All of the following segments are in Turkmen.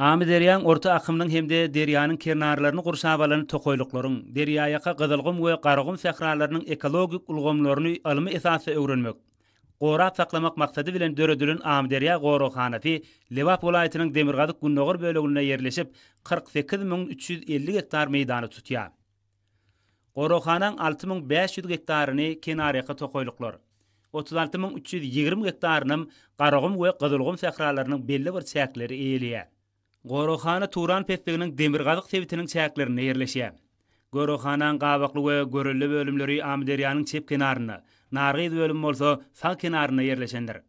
Amyderýaň orta akymynyň hem-de derýanyň kernarlaryny gurşap alan tokaýlyklaryň, derýaýaka Gyzylgum we Garagum sähralarynyň ekologik ulgamlaryny ylmy esasda öwrenmek, gorap saklamak maksady bilen döredilen Amyderýa goraghanasy Lebap welaýatynyň demirgazyk-gündogar böleginde ýerleşip, kyrk sekiz müň üç ýüz elli gektar meýdany tutýar. Goraghanaň alty müň bäş ýüz gektaryny kenarýaka tokaýlyklar, otuz alty müň üç ýüz ýigrimi gektarynam Garagum we Gyzylgum sähralarynyň belli bir çäkleri eýeleýär. Goraghana Turan pesliginiň demirgazyk sebitiniň çäklerinde ýerleşýär. Goraghanaň Gabakly we Görelde bölümleri Amyderýanyň çep kenarynda, Nargyz bölümi bolsa sag kenarynda ýerleşendir.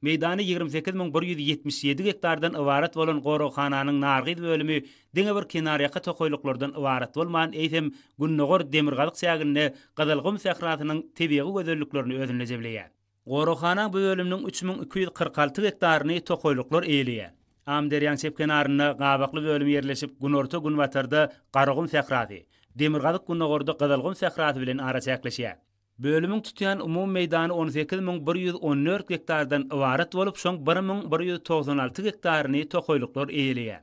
Meýdany ýigrimi sekiz müň bir ýüz ýetmiş ýedi gektardan ybarat bolan goraghananyň Nargyz bölümi diňe bir kenarýaka tokaýlyklardan ybarat bolman, eýsem, gündogar demirgazyk çäginde Gyzylgum sährasynyň tebigy gözelliklerini özünde jemleýär. Goraghana bu bölüminiň üç müň iki ýüz kyrk alty gektaryny tokaýlyklar eýeleýär. Amyderýanyň çep kenarynda Gabakly bölümi ýerleşip, günorta-günbatarda Garagum sährasy, demirgazyk-gündogarda Gyzylgum sährasy bilen araçäkleşýär. Bölümiň tutýan umumy meýdany on sekiz müň bir ýüz on dört gektardan ybarat bolup, şoň bir müň bir ýüz togsan alty gektaryny tokaýlyklar eýeleýär.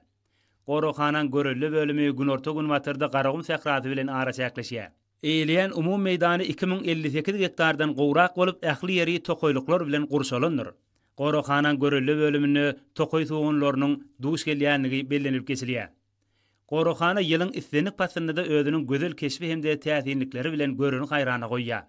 Goraghananyň Görelde bölümi günorta-günbatarda Garagum sährasy bilen araçäkleşýär. Eýeleýän umumy meýdany iki müň elli sekiz gektardan gowrak bolup, ähli ýeri tokaýlyklar bilen gurşalandyr. Goraghananyň Görelde bölüminde tokaý sugunlarynyň duş gelýändigi bellenilip geçilýär. Goraghana ýylyň islendik paslynda-da özüniň gözel keşbi hem-de täsinlikleri bilen göreni haýrana goýýar.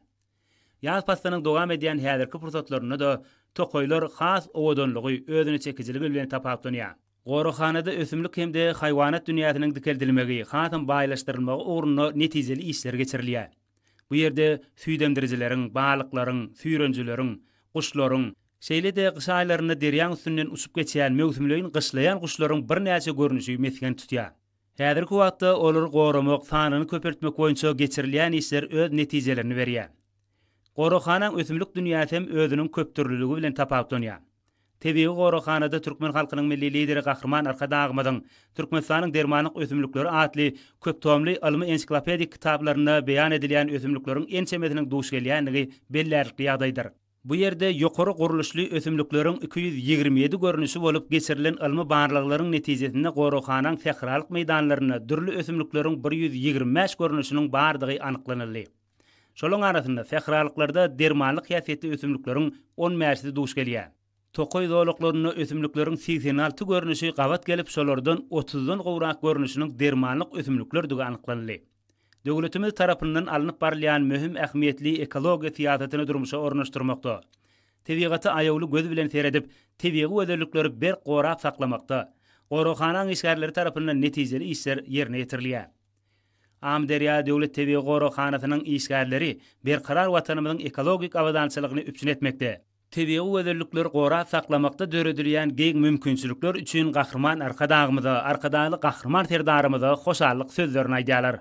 Ýaz paslynyň dowam edýän häzirki pursatlarynda-da tokaýlar has owadanlygy, özüneçekijiligi bilen tapawutlanýar. Goraghanada ösümlik hem-de haýwanat dünýäsiniň dikeldilmegi, hasam baýlaşdyrylmagy ugrunda netijeli işler geçirilýär. Bu ýerde süýdemdirijileriň, balyklaryň, süýrenijileriň, guşlaryň, Şeýle-de gyş aýlarynda derýaň üstünden uçup geçýän möwsümleýin gyşlaýan guşlaryň birnäçe görnüşi mesgen tutýar. Häzirki wagtda olary goramak, sanyny köpeltmek boýunça geçirilýän işler öz netijelerini berýär. Goraghanaň ösümlik dünýäsi hem özüniň köpdürlüligi bilen tapawutlanýar. Tebigy goraghanada türkmen halkynyň Milli Lideri Gahryman Arkadagymyzyň Türkmenistanyň dermanlyk ösümlikleri atly köptomly ylmy-ensiklopedik kitaplarynda beýan edilýän ösümlikleriň ençemesiniň duş gelýändigi bellärlikli ýagdaýdyr. Bu ýerde ýokary gurluşly ösümlikleriň iki ýüz ýigrimi ýedi görnüşi bolup geçirilen ylmy barlaglaryň netijesinde goraghanaň sähralyk meýdanlarynda dürli ösümlikleriň bir ýüz ýigrimi bäş görnüşiniň bardygy anyklanyldy. Şolaryň arasynda sähralyklarda dermanlyk häsiýetli ösümlikleriň on bäşisi duş gelýär. Tokaý zolaklarynda ösümlikleriň segsen alty görnüşi gabat gelip şolardan otuzdan gowrak görnüşiniň dermanlyk ösümliklerdigi anyklanyldy. Döwletimiz tarapyndan alnyp barylýan möhüm ähmiýetli ekologiýa syýasatyny durmuşa ornaşdyrmakda, tebigata aýawly göz bilen seredip, tebigy gözellikleri berk gorap saklamakda goraghanaň işgärleri tarapyndan netijeli işler ýerine ýetirilýär. Amyderýa döwlet tebigy goraghanasynyň işgärleri Berkarar Watanymyzyň ekologik abadançylygyny üpjün etmekde, Tebigy gözellikleri gorap saklamakda döredilýän giň mümkinçilikler üçin Gahryman Arkadagymyza, Arkadagly Gahryman Serdarymyza hoşallyk sözlerini aýdýarlar.